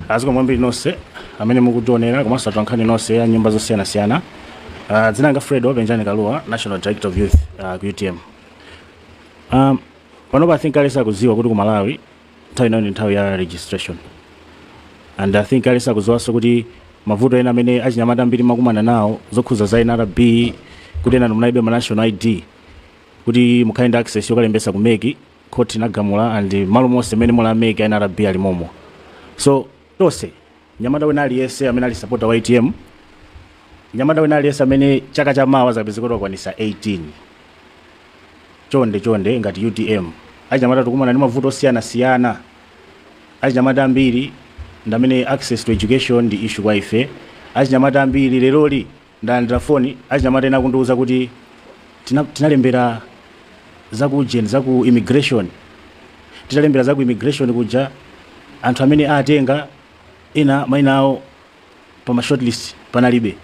Zikomo kwambiri nonse amene mukutionera komanso atolankhani nonse a nyumba zosiyanasiyana. Ah, Dzina langa Fred Penjani Kalua, National Director of Youth ah, ku UTM. Um, panopa I think aliyense akudziwa kuti ku Malawi nthawi inoyo ndi nthawi ya registration and I think aliyense akudziwanso kuti mavuto ena amene achinyamata ambiri mwakumana nawo zokhudza za NRB kuti ena munalibe ma national ID kuti mukhale ndi access yokalembesa ku MEC court inagamula and malo monse mene muli a mec nrb ali momo so tonse nyamata wina aliyese amene ali supporter wa utm nyamata wina aliyese amene chaka cha mawa azapeze kuti wakwanisa 18 chonde chonde ngati utm achinyamata tikumana ndi mavuto osiyana siyana achinyamata ambiri ndamene access to education ndi issue kwa ife achinyamata ambiri leroli Ndalandira foni achinyamata ena akundiuza kuti tina tinalembera za ku ujeni za ku immigration tinalembera za ku immigration kuja anthu amene atenga ena maina awo pa ma shortlist panalibe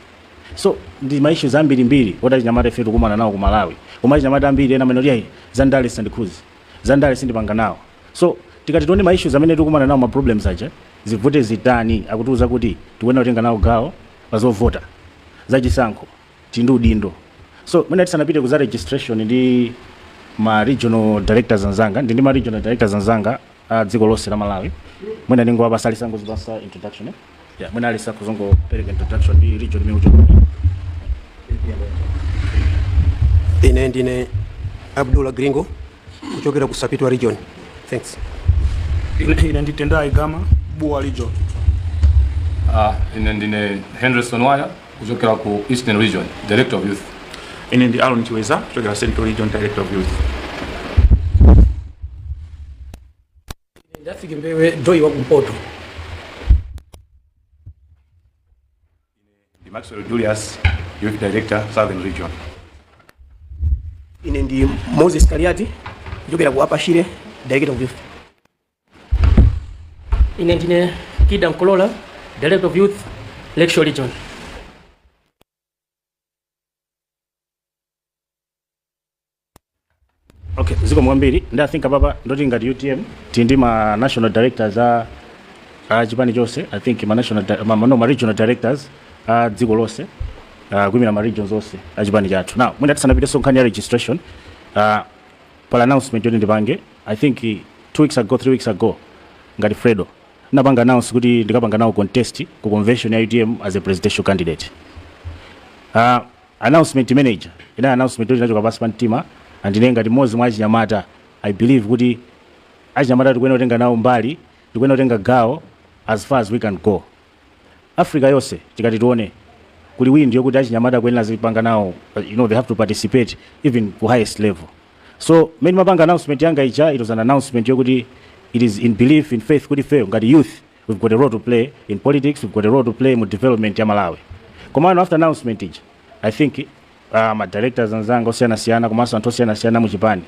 so ndi ma issues ambiri mbiri oti achinyamata ife tikumana nawo ku Malawi koma achinyamata ambiri ena amanena kuti za ndale sandikhuzi za ndale sindipanga nawo so tikati tione ma issues amene tikumana nawo ma problems aja zivute zitani akutiuza kuti tikuyenera kutenga nawo gawo pazovota zachisankho tili ndi udindo so mwina tisanapite kuza registration ndi ma regional directors anzanga ndi ndi ma regional directors anzanga a dziko lonse la Malawi mwina ndingowapasa aliyense angozipasa introduction eh? yeah, mwina aliyense azingopereka introduction ndi region imene uchoka ine ndine abdullah gringo kuchokera ku sapitwa region thanks ine ndi tendai gama bua region Ah, ine ndine henderson waya kuchokera ku eastern region director of youth ine ndi aron chiweza kuchokera central region director of youth ndafike mbewe doi wa kumpoto Ndi Maxwell Julius, Youth Director, Southern Region. Ine ndi Moses Kaliati kuchokera ku Upper Shire Director of Youth. Ine ndine Kida Nkolola, Director of Youth, Lakeshore Region. okay zikomo kwambiri ndi i think apapa ndi zoti ngati utm tili ndi ma national directors a a chipani chonse i think ma national di- ma, ma- no, ma regional directors a dziko lonse uh, kuyimira ma regions onse a chipani chathu now mwina tisanapitenso nkhani ya registration uh, pali announcement yoti ndipange i think eh, two weeks ago three weeks ago ngati fredo napanga announce kuti ndikapanga nawo contest ku convention ya utm as a presidential candidate uh, Announcement imene ija ina announcement yoti inachoka pansi pa mtima and ine ngati mmodzi mwa achinyamata I believe kuti achinyamata tikuyenera kutenga nawo mbali, tikuyenera kutenga gawo as far as we can go. Africa yonse tikati tione kuli wind yokuti achinyamata akuyenera azipanga nawo you know they have to participate even ku highest level. So mmene ndimapanga announcement yanga ija it was an announcement yokuti it is in belief, in faith kuti ifeyo ngati youth we've got a role to play in politics we've got a role to play mu development ya malawi komano after announcement ija i think uh, ma directors anzanga osiyanasiyana komanso anthu osiyanasiyana mu chipani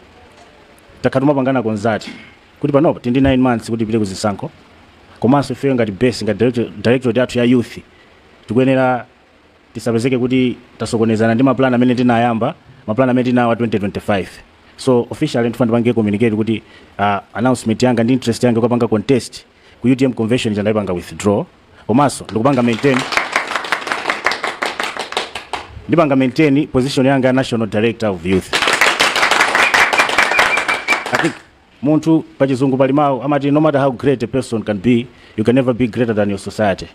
takhala tikumapanga consult kuti panopo tili ndi 9 months kuti tipite ku zisankho komanso ifeyo ngati base ngati director- directorate yathu ya youth tikuyenera tisapezeke kuti tasokonezana ndi maplan amene tinayamba maplan amene tinawo a 2025 so officially ndifuna ndipange communicate kuti uh, announcement yanga ndi interest yanga kukapanga contest Ku utm convention ija ndaipanga withdraw komanso ndikupanga maintain ndipanga maintain position yanga ya national director of youth I think munthu pachizungu pali mawu amati no matter how great a person can be you can never be greater than your society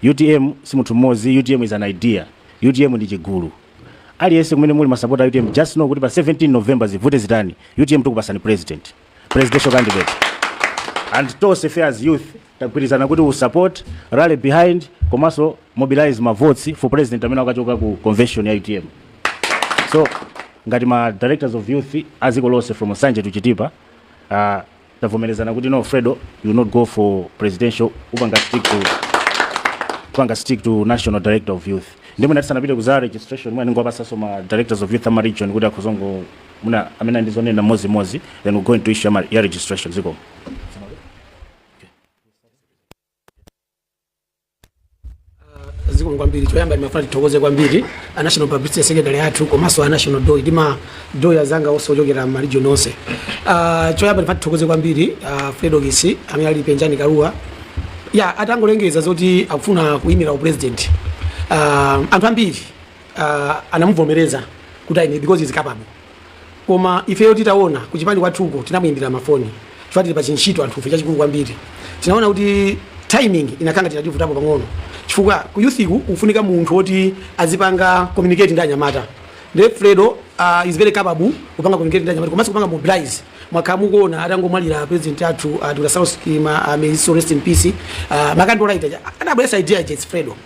utm si munthu mmodzi utm is an idea utm ndi chigulu aliyense kumene muli masapota a utm just know kuti pa 17 november zivute zitani utm tikupasani president presidential candidate and tonse fe as youth tagwirizana kuti tisupport rally behind komanso mobilize ma votes for president amene akachoka ku convention ya utm so ngati ma directors of youth aziko lonse from nsanje to chitipa uh, tavomerezana kuti no fredo you will not go for presidential upanga stick to panga stick to national director of youth nde mwina tisanapite ku za registration mwina ndingowapatsa ma directors of youth ama region kuti akhoza mwina amene ali ndi zonena mmodzi mmodzi then we go into issue ya ma- ya registration zikomo zikomo kwambiri choyamba ndimafuna tithokoze kwambiri a national publicity secretary athu komanso a national doy ndi ma doy azanga onse ochokera m'maregion onse Ah, choyamba ndimafuna tithokoze kwambiri ah, fredokiss amene ali penjani kalua ya atangolengeza zoti akufuna kuyimira upresident Ah, anthu ambiri uh, anamuvomereza kuti aime because he's capable koma ifeyo titaona kuchipani kwathuko tinamuyimbira mafoni chifukwa tili pa chintchito anthufe chachikulu kwambiri tinaona kuti timing inakhala ngati inativutapo pang'ono chifukwa ku youth ku kufunika munthu woti azipanga communicate ndi anyamata nde fredo uh, is very capable kupanga communicate ndi anyamata komanso kupanga mobilize mwakhala mukuona atangomwalira president athu uh, dr saulos chilima uh, may his soul rest in peace uh, ma candlelight anabweresa idea ya jets fredo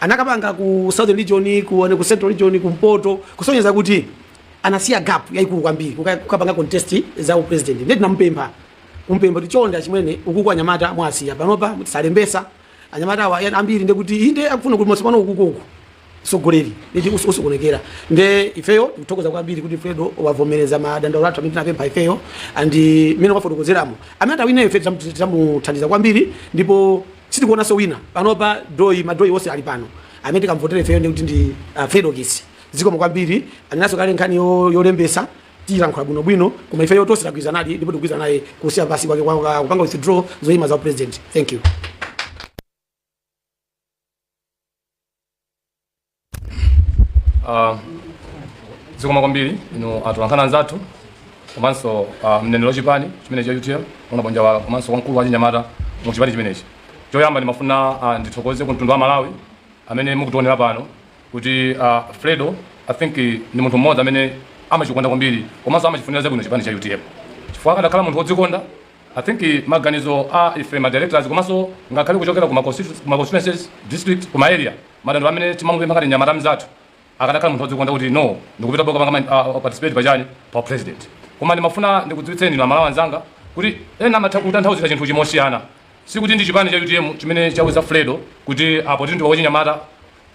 anakapanga ku southern region ku, ku central region kumpoto kusonyeza kuti anasiya gap yaikulu kwambiri kukapanga contest za upresident nde tinamupempha kumpempha kuti chonde achimwene ukuku anyamata mwasiya panopa sakulembesa anyamata awa ambiri ndekuti inde akufuna kuti mose muno ukuku utsogoleri ndi usokonekera nde ifeyo tikuthokoza kwambiri kuti fredo wavomereza madandaulo athu amene tinapempha ifeyo and mmene wafotokozeramo amene atawine ife titamuthandiza kwambiri ndipo sitikuonanso wina panopa doi ma doi onse ali pano amene tikamvotera ifeyo ndi kuti ndi uh, fredokiss zikomo kwambiri anenanso kale nkhani yo- yolembesa tiyilankhula bwinobwino koma ifeyo tonse tagwirizanadi ndipo tikugwirizana naye kusiya pansi kwake kwa- kwa- kupanga withdraw zoyima za upresident thank you Uh, zikomo kwambiri inu atolankhani anzathu komanso uh, mneneri wa chipani chimenechi cha utm ona bonja wa komanso wamkulu wa chinyamata mu chipani chimenechi choyamba ndimafuna uh, ndithokoze ku mtundu wa malawi amene mukutiwonera pano kuti uh, fredo i think ndi munthu mmodzi amene amachikonda kwambiri komanso amachifunira zabwino chipani cha utm chifukwa akadakhala munthu wodzikonda I think maganizo a ife ma directors komanso ngakhale kuchokera ku ma constitu- ku ma constituencies district ku ma area madandaulo amene timamupempha ngati mnyamata mzathu akadakhala munthu odzikonda kuti no ndikupitabe kukapanga ma- uh, participate pachani pa upresident koma ndimafuna ndikudziwitseni inu amalawi anzanga kuti ena amatha kutanthauzira chinthu chimosiyana sikuti ndi chipani cha utm chimene chawuza fredo kuti a poti ndiwe wachinyamata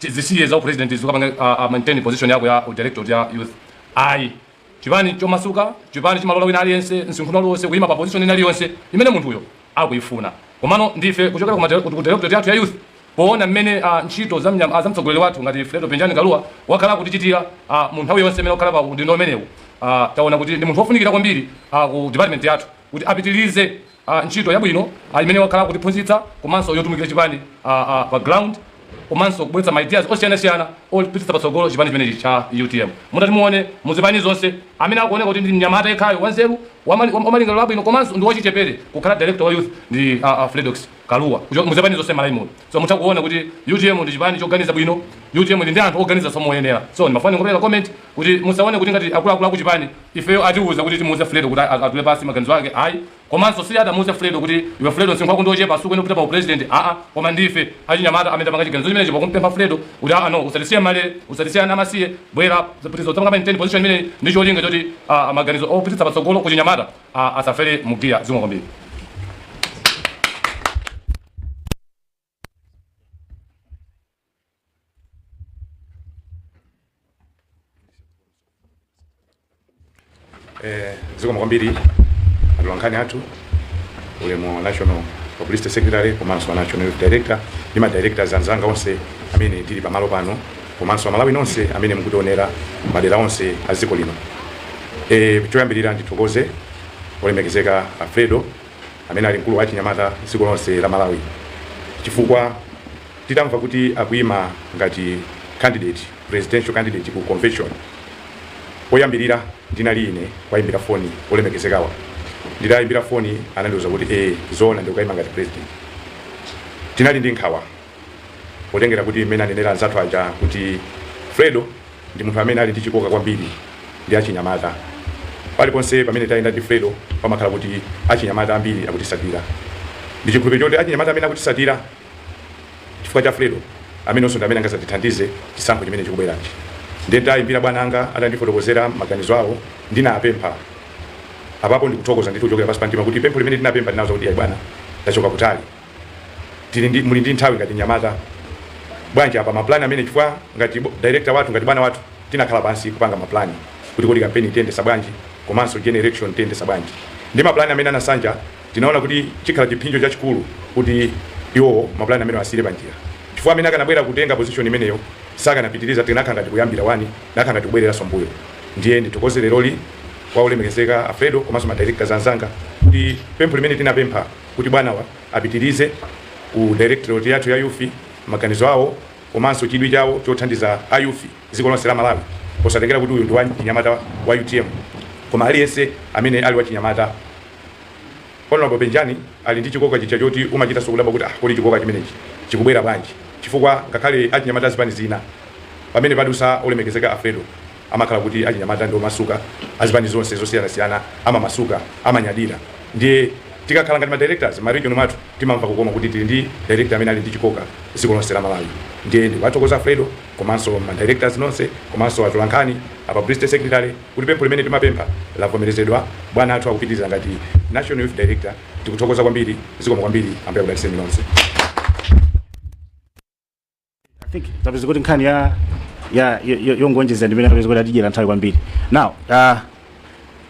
zisiye za upresident uzikapanga uh, uh, maintain position yako ya director wa youth ayi Chipani chomasuka, chipani chimalola wina aliyense, msinkhu uliwonse, kuyima pa position ina iliyonse imene munthuyo akuyifuna. Komano ndife kuchokera ku madera, ku directorate yathu ya youth, powona mmene a, ntchito za mnyam, a, za mtsogoleri wathu ngati Fredo Penjani Kalua wakhala akutichitira a, mu nthawi yonse imene wakhala pa udindo umenewu, a, tawona kuti ndi munthu wofunikira kwambiri a, ku department yathu. kuti apitilize a ntchito yabwino a imene wakhala akutiphunzitsa komanso yotumikira chipani a a pa ground komanso kubweretsa ma ideas osiyanasiyana opititsa patsogolo chipani chimenechi cha utm mutati muone muzipani zonse amene akuoneka kuti ndi mnyamata yekhayo wanzeru wamali- wam- wamalingaliro abwino komanso ndi wachichepere kukhala director wa youth ndi a, a fredokiss kalua kucho- muzipani zonse mmalawi muno so mutha kuona kuti utm ndi chipani choganiza bwino utm ndi ndi anthu oganiza zomoyenera so ndimafuna ndingopereka comment kuti musaone kuti ngati akuluakulu aku chipani ifeyo atiuza kuti timuuze Fredo kuti atule pansi maganizo ake ayi komanso sanamuuze Fredo kuti iwe Fredo msinkhu wako ndi wochepa sukuyenera kupita pa upresident aa koma ndife achinyamata amene tapanga chiganizo chimenechi pakumpempha Fredo kuti aa no usatisiye mmalere usatisiye ana amasiye bwera uzapitilize kupanga maintain position imeneyi ndi cholinga choti ah, maganizo opititsa patsogolo kuchinyamata ah, asafere mnjira zikomo kwambiri Eh, zikomo kwambiri atolankhani athu ulemu a national publicity secretary komanso national youth director ndi ma directors anzanga onse amene tili pamalo pano komanso amalawi nonse amene mukutionera madera onse a dziko lino eh, choyambirira ndithokoze olemekezeka a Fredo amene ali mkulu wa achinyamata dziko lonse la Malawi chifukwa titamva kuti akuima ngati candidate, presidential candidate ku convention oyambirira ndinali ine kuwaimbira foni olemekezekawa. Nditawaimbira foni anandiuza kuti ee zoona ndikukaima ngati president. Tinali ndi nkhawa. potengera kuti mmene anenera anzathu aja kuti fredo ndi munthu amene ali ndi chikoka kwambiri ndi achinyamata paliponse pamene tayenda ndi fredo pamakhala kuti achinyamata ambiri akutisatira ndi chikhulupiriro choti achinyamata amene akutisatira chifukwa cha fredo amenewonso ndi amene angazatithandize chisankho chimene chikubwerachi nditayimbira bwana anga atandifotokozera maganizo awo ndinapempha apapa ndikuthokoza ndithu kuchokera pansi pa mtima kuti pempho limene ndinapempha ndinawauza kuti ayi bwana tachoka kutali tili ndi muli ndi nthawi ngati nyamata bwanji apa mapulani amene chifukwa ngati bo- director wathu ngati bwana wathu tinakhala pansi kupanga mapulani kuti kodi kampeni tiyendesa bwanji komanso general election tiyendesa bwanji ndi mapulani amene anasanja tinaona kuti chikhala chipsinjo chachikulu kuti iwowo mapulani amene asiye panjira chifukwa amene akanabwera kutenga position imeneyo sakanapitiriza zinakhala ngati kuyambira wani zinakhala ngati kubwereranso mbuyo ndiye ndithokoze leroli kwa olemekezeka a Fredo komanso ma directors anzanga kuti pempho limene tinapempha kuti bwanawa apitilize ku directorate yathu ya youth maganizo awo komanso chidwi chawo chothandiza a youth dziko lonse la Malawi osatengera kuti uyu ndi wachinyamata wa utm koma aliyense amene ali wachinyamata Hon Penjani ali ndi chikoka chija choti umachitanso kudabwa kuti ah kodi chikoka chimenechi chikubwera bwanji chifukwa ngakhale achinyamata a zipani zina pamene padusa olemekezeka a Fredo amakhala kuti achinyamata ndi omasuka, azipani zonse zosiyanasiyana amamasuka, amanyadira ndiye tikakhala ngati ma directors ma region mwathu timamva kukoma kuti tili ndi director amene ali ndi chikoka dziko lonse la Malawi ndiye ndikuwathokoza Fredo komanso ma directors nonse komanso atolankhani a publicity secretary kuti pempho limene tinapempha lavomerezedwa bwana athu akupitiriza ngati National Youth Director tikuthokoza kwambiri zikomo kwambiri Ambuye akudaliseni nonse. think tapeza kuti nkhani ya ya yo- yo- yongonjezera ndimene tapeza kuti atidyera nthawi kwambiri now uh,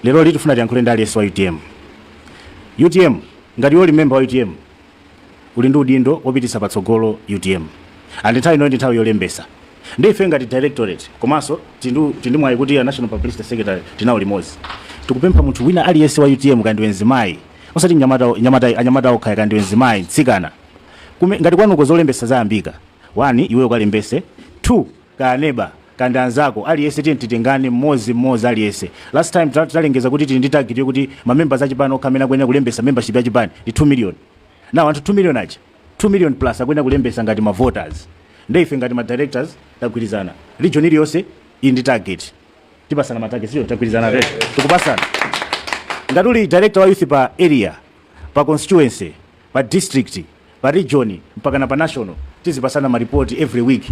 leroli tifuna tiyankhule ndi aliyense wa utm utm ngati iwe uli memba wa utm uli ndi udindo wopititsa patsogolo utm and nthawi ino ndi nthawi yolembesa ndi ife ngati directorate komanso tindu- tindi mwayi kuti a national publicity secretary tili nawo limodzi tikupempha munthu wina aliyense wa utm kaya ndiwe nzimayi osati anyamata nyamata anyamata okha kaya ndiwe nzimayi mtsikana ngati kwanuko zolembetsa zayambika, 1 iweyo ukalembetse, 2 kaya neba, kaya ndi anzako, aliyense tiyeni titengane mmodzi mmodzi aliyense. Last time tinalengeza kuti tili ndi target yokuti ma members a chipani okha amene akuyenera kulembetsa membership ya chipani ndi 2 million. Now anthu 2 million aja, 2 million plus akuyenera kulembetsa ngati ma voters. Nde ife ngati ma directors tagwirizana. Region iliyonse ili ndi target. Tipasana ma target, so tagwirizana rate. Tikupasana. Ngati uli director wa youth pa area, pa constituency, pa district, pa region mpakana pa national tizipasana ma report every week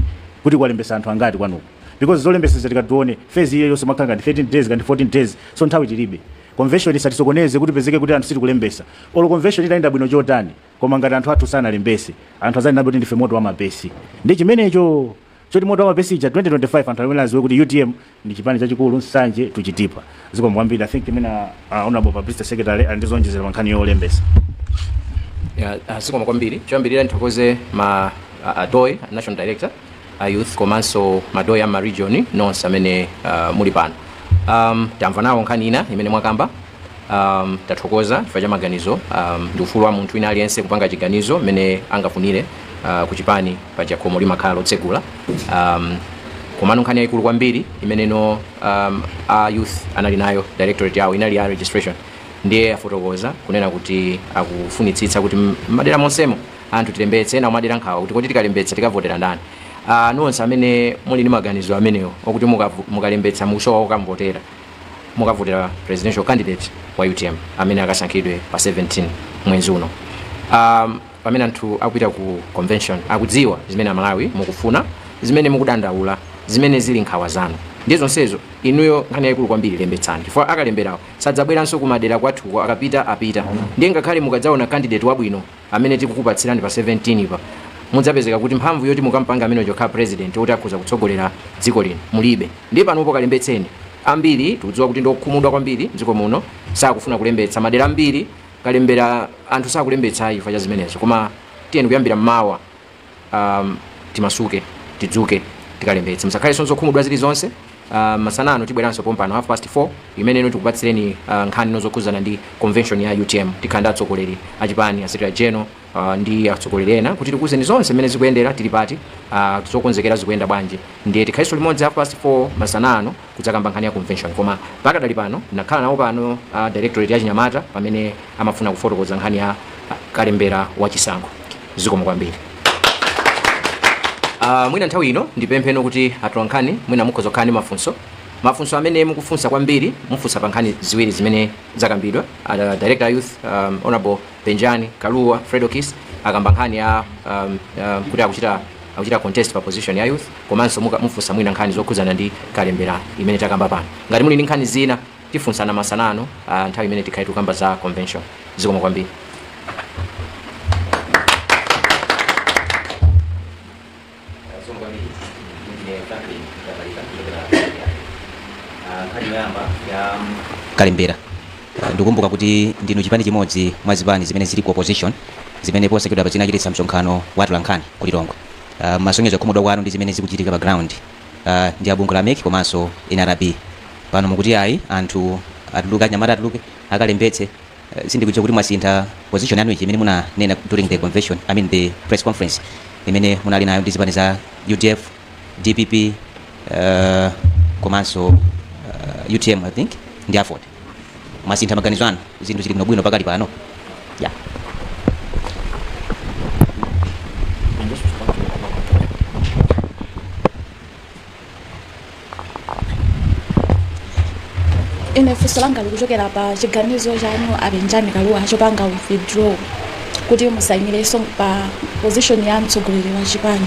kuti kwalembesa anthu angati kwanuko because zolembesa zija tikati tiwone phase iyo yonse imakhala ngati 13 days ngati 14 days so nthawi tilibe convention isatisokoneze kuti pezeke kuti anthu sitikulembesa olo convention itayenda bwino chotani koma ngati anthu athu sanalembese anthu azanenabe kuti ndife moto wa mapesi ndi chimenecho Choti moto wamapesi ija 2025 anthu adzaziwe kuti utm ndi chipani chachikulu Nsanje to Chitipa zikomo kwambiri i think mwina uh, honorable publicity secretary ali ndi zonjezera pankhani yolembesa Ya, ah, zikomo kwambiri choyambirira ndithokoze ma ah, a DOY national director a youth komanso ma DOY a ma region nonse amene ah, muli pano um, tamva nawo nkhani ina imene mwakamba um, tathokoza chifukwa cha maganizo um, ndi ufulu wa munthu wina aliyense kupanga chiganizo mmene angafunire uh, ku chipani paja khomo limakhala lotsegula um, komano nkhani yayikulu kwambiri imene ino um, a youth anali nayo directorate yawo inali ya registration ndiye afotokoza kunena kuti akufunitsitsa kuti m- m'madera monsemo anthu tilembetse ena kumadera nkhawa kuti kodi tikalembetsa tikavotera ndani uh, nonse amene muli ndi maganizo amenewo okuti mukavu- mukalembetsa mukusowa okamvotera mukavotera presidential candidate wa utm amene akasankhidwe pa 17 mwezi uno um, pamene anthu akupita ku convention akudziwa zimene amalawi mukufuna zimene mukudandaula zimene zili nkhawa zanu ndi zonsezo inuyo nkhani yayikulu kwambiri lembetsani chifukwa akalemberawo sadzabweranso kumadera kwathuko akapita apita ndiye ngakhale mukadzaona candidate wabwino amene tikukupatsirani pa 17 pa mudzapezeka kuti mphamvu yoti mukampange amene uja kukhala president woti akhoza kutsogolera dziko lino mulibe ndiye panopo kalembetseni ambiri tikudziwa kuti ndiokhumudwa kwambiri m'dziko muno sakufuna kulembetsa madera ambiri kalembera anthu sakulembetsa ayi chifukwa cha zimenezo koma tiyeni kuyambira mmawa um, timasuke tidzuke tikalembetse musakhalenso zokhumudwa zilizonse uh, masana ano tibweranso pompano half past 4 imene ino tikupatsireni uh, nkhani ino zokhudzana ndi convention ya utm tikhala ndi atsogoleri achipani a secretary general uh, ndi atsogoleri ena kuti tikuwuzeni zonse mmene zikuyendera tili pati uh, zokonzekera zikuyenda bwanji ndiye tikhaliso limodzi half past 4 masana ano kudzakamba nkhani ya convention koma pakadali pano takhala nawo pano a Directorate ya chinyamata pamene amafuna kufotokoza nkhani ya kalembera wa chisankho zikomo kwambiri Uh, mwina nthawi ino ndipempheno kuti atolankhani mwina mukhoza kukhala ndi mafunso mafunso amene mukufunsa, kwambiri mufunsa pa nkhani ziwiri zimene zakambidwa uh, director of youth um, honorable Penjani Kalua Fredokiss akamba nkhani ya um, uh, kuti akuchita akuchita contest pa position ya youth komanso muka mufunsa mwina nkhani zokhudzana ndi kalembera imene takamba pano ngati muli ndi nkhani zina tifunsana masana ano ah, nthawi imene tikhale tikukamba za convention zikomo kwambiri kalembera Ah, ndikukumbuka kuti ndinu chipani chimodzi mwa zipani zimene zili ku opposition zimene posachedwapa zinachititsa msonkhano wa atolankhani ku Lilongwe uh, munasonyeza kukhumudwa kwanu ndi zimene zikuchitika pa ground uh, ndi abungwe la MEC komanso NRB pano mukuti ayi anthu atuluke anyamata atuluke akalembetse uh, sindikudziwa kuti mwasintha position yanu ichi imene munanena during the convention i mean the press conference imene munali nayo ndi zipani za UDF DPP uh, komanso uh, UTM I think ndi AFORD mwasintha maganizo anu zinthu zili bwinobwino pakali pano ya ine funso langa likuchokera pa chiganizo chanu a Penjani Kalua chopanga withdraw kuti musayimirenso pa position ya mtsogoleri wa chipani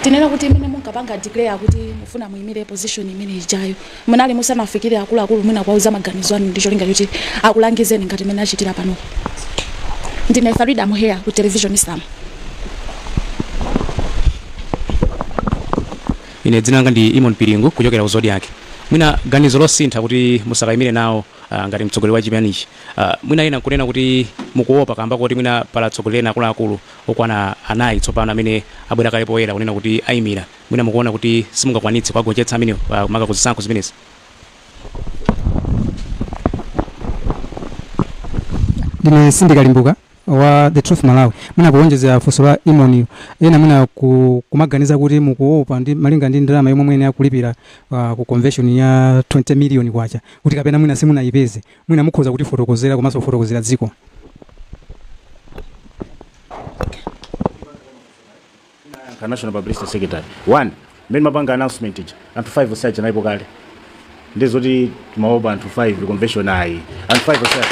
tinene kuti imene munkapanga declare kuti mufuna muimire position imene ijayo Munali musanafikire akuluakulu mwina kuwauza maganizo anu ndi cholinga choti akulangizeni ngati mmene achitira panopa? Ndine Farida Muheya ku Television Islam. ine dzina langa ndi Eamon Piringu kuchokera ku Zodiak mwina ganizo losintha kuti musakayimire nawo ah, ngati mtsogoleri wa chipanichi Ah, mwina ena kunena kuti mukuopa kamba koti mwina pali atsogoleri ena akuluakulu okwana anayi tsopano amene abwera kale poyera kunena kuti ayimira Mwina mukuona kuti simungakwanitse kuwagonjetsa amenewa, maka ku zisankho zimenezi. Ndine Sindika Limbuka wa The Truth Malawi. Mwina kuwonjezera funso la Eamon yu, ena mwina ku, kumaganiza kuti mukuopa ndi malinga ndi ndalama yomwe muyenera kulipira ah, ku convention ya 20 million kwacha kuti kapena mwina simunayipeze. Mwina mukhoza kutifotokozera komanso kufotokozera dziko. ka national publicity secretary one mmene timapanga announcement ija anthu 5 ose aja analipo kale ndiye zoti timaopa anthu 5 convention ayi anthu 5 ose aja.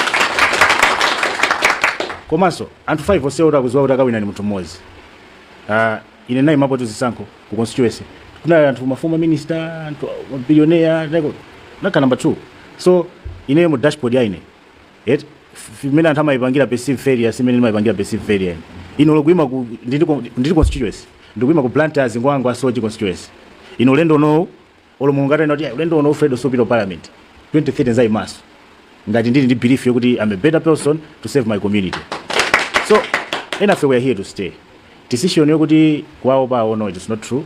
komanso anthu 5 ose oti akuziwa kuti akawina ni munthu mmodzi Ah, ine ndinayimapotu zisankho ku constituency kunali anthu ma former minister anthu mabilionea nakhala number 2 so ineyo mu dashboard ya ine eti mmene anthu amayipangira perceive failure si mmene ndimayipangira perceive failure ine ine olo kuima ku Ndirande ku- Ndirande constituency ndikuima ku Blantyre City kwa ngwangwa Soche constituency ine ulendo uno olo mulungu atanena kuti "Ayi, ulendo uno Fredo supita parliament 2030 ndizayimaso ngati ndili ndi belief yokuti I'm a better person to serve my community so enafe we are here to stay decision yokuti kuwaopa no it is not true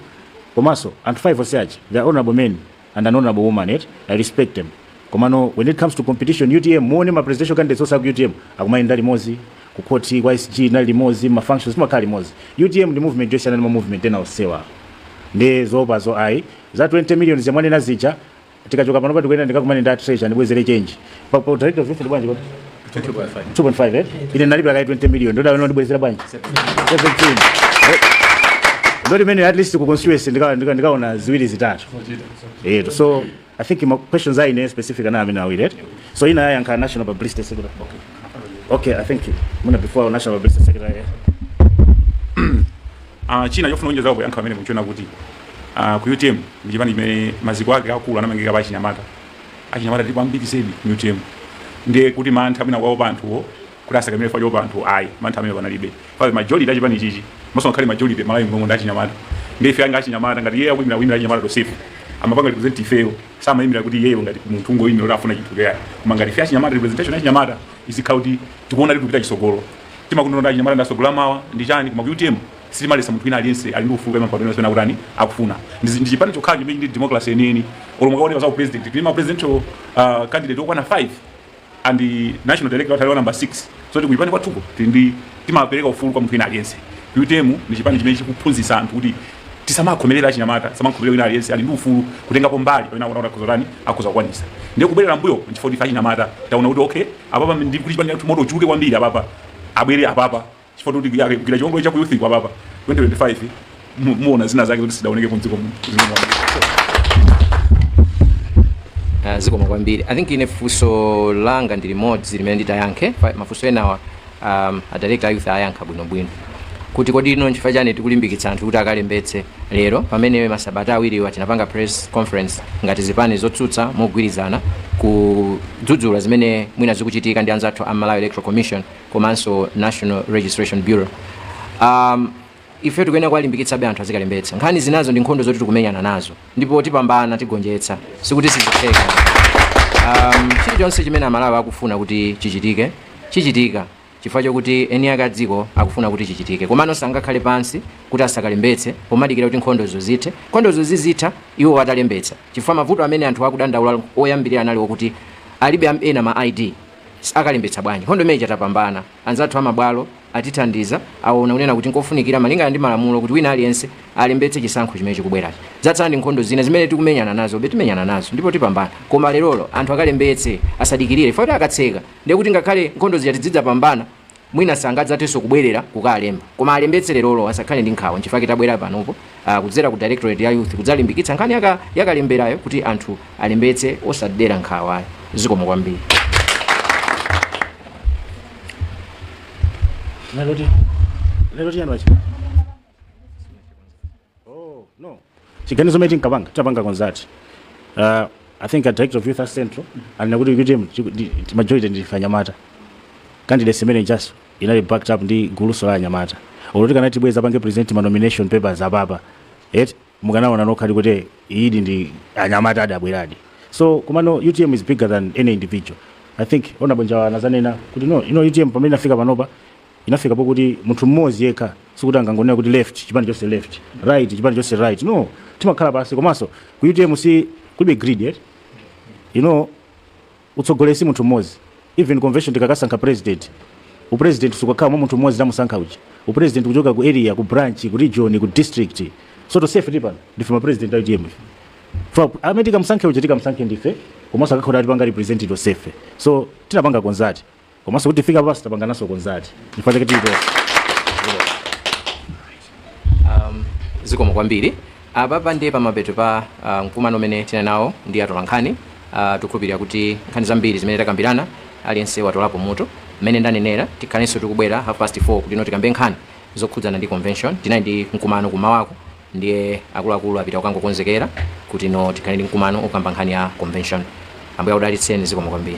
komanso anthu 5 onse aja they are honorable men and an honourable woman eti i respect them komano when it comes to competition utm muone ma presidential candidates onse aku utm akumayenda limodzi ku court kwa sg anali limodzi ma functions timakhala limodzi utm ndi movement yosiyana ndi ma movement ena onsewa ndiye zoopazo ayi za 20 million zimene amanena zija tikachoka pano patikuyenera ndikakumane ndi a treasurer ndibwezere change pa pa director of youth ndi bwanji kwa 2.5 eh ine nalipira kaye 20 million ndiye akuyenera andibwezere bwanji 17 ndi dot imene at least ku constituency ndika- ndika- ndikaona ziwiri zitatu eh so i think ma questions anali specific ndi amenewa awiriwa so ena ayankha national publicity secretary okay i think muna before national publicity secretary eh? Ah, china chofuna kuonjeza kuyankha amene mukuchiona kuti ah, ku utm ndi chipani chimene maziko ake akuluakulu anamangika pa achinyamata achinyamata tilipo ambiri zedi mu utm ndiye kuti mantha mwina kuwaopa anthuwo kuti asakamire chifukwa choopa anthu ayi mantha amenewo panalibe paja majority ya chipanichi komanso ngakhale majority m'Malawi muno ndi achinyamata ndiye ife nga achinyamata ngati iye akuimira kuimira achinyamata tonsefe amapanga represent ifeyo sakuimira kuti iyeyo ngati munthu ungoimira kuti afuna chinthu kaya koma ngati ife achinyamata representation ya achinyamata izikhala kuti tikuona kuti tikupita chisogolo timangonena kuti achinyamata ndi asogoleri a mawa ndi chani koma ku utm sitimaletsa munthu wina aliyense ali ndi ufulu kuima mpando umene akutani akufuna ndi ndi chipani chokhacho chimene ndi democracy yeniyeni olo mukaone za upresident tili ma presidential uh, candidate okwana 5 and the national director wa Taliwa number 6 so ku chipani kwathuko tili ndi- timapereka ufulu kwa munthu wina aliyense utm ndi chipani chimene chikuphunzitsa anthu kuti tisamakhomerera achinyamata tisamakhomerera wina aliyense ali ndi ufulu kutengapo mbali pamene akuona kuti akhoza kutani akhoza kukwanisa ndiye kubwerera mbuyo nchifukwa ife achinyamata taona kuti okay apapa ndi kuti chipani chathu moto uchuluke kwambiri apapa abwere apapa chifukwa tikuti tigwire chiwongolero cha ku youth kuti apapa 2025 muona zina zake zoti sizidaonekepo mdziko muno ah, zikomo kwambiri i think ine funso langa ndi limodzi limene nditayankhe mafunso enawa um, a director a youth ayankha bwinobwino kuti kodi nanga nchifukwa chani tikulimbikitsa anthu kuti akalembetse lero pamene masabata awiriwa tinapanga press conference ngati zipani zotsutsa mogwirizana kudzudzula zimene mwina zikuchitika ndi anzathu a Malawi Electoral Commission komanso national registration bureau um, ife tikuyenera kuwalimbikitsabe anthu azikalembetsa nkhani zinazo ndi nkhondo zoti tikumenyana nazo ndipo tipambana tigonjetsa sikuti sizitheka um, chilichonse chimene amalawi akufuna kuti chichitike chichitika chifukwa chokuti eni ake adziko akufuna kuti chichitike komano sangakhale pansi kuti asakalembetse pomadikira kuti nkhondozo zithe nkhondozo zizitha iwo atalembetsa chifukwa mavuto amene anthu akudandaula oyambirira anali okuti alibe am- ena ma id akalembetsa bwanji nkhondo imene ija tapambana anzathu amabwalo atithandiza aona kunena kuti nkofunikira malingana ndi malamulo kuti wina aliyense alembetse chisankho chimene chikubwerachi zatsala ndi nkhondo zina zimene tikumenyana nazobe timenyana nazo ndipo tipambana koma lerolo anthu akalembetse asadikirire ifeyo poti akatseka ndiye kuti ngakhale nkhondo zija tidzidzapambana mwina sangadzathenso kubwerera kukalemba koma alembetse lerolo asakhale ndi nkhawa nchifake tabwera panopo ah, kudzera ku directorate ya youth kudzalimbikitsa nkhani yaka- yakalemberayo kuti anthu alembetse osadera nkhawayo zikomo kwambiri Lero ti- lero tiyani wachi- chiganizo chimene tinkapanga tinapanga consult uh, i think a director of youth at central anena kuti utm chiku- ndi- ndi majority ndi anyamata candidate yemwe Justin anali backed up ndi guluso la anyamata olo akanati abwere adzapange present ma nomination papers apapa eti mukanaona nokhadi kuti iyayidi ndi anyamatadi abweradi so komano utm is bigger than any individual i think honourable Njawala anazanena kuti no ino utm pamene inafika panopa Inafika pokuti munthu mmodzi yekha sikuti angangonena kuti left chipani chonse left, right chipani chonse right no timakhala pansi komanso ku utm si kulibe greed eti you know utsogoleri si munthu mmodzi even convention tikakasankha president u president sukakhala mwa munthu mmodzi tamusankha uja u president kuchoka ku area ku branch ku region ku district so tonsefe tili pano ndife ma president a utm ife amene tikamusankhe uja tikamusankhe ndife komanso akakhala atipanga represent tonsefe so tinapanga consult komanso kuti tifike pansi tapangananso consult chifukwa chake tili tonse um, zikomo kwambiri apapa ndiye pamapeto pa uh, mkumano umene tinali nawo ndi atolankhani uh, tikukhulupirira kuti nkhani zambiri zimene takambirana aliyense watolapo mutu mmene ndanenera tikhalenso tikubwera half past 4 kuti no tikambe nkhani zokhudzana ndi convention tinali ndi mkumano kumawako Ndiye akuluakulu apita kukangokonzekera kuti no tikhale ndi mkumano okamba nkhani ya convention. Ambuye akudalitseni zikomo kwambiri.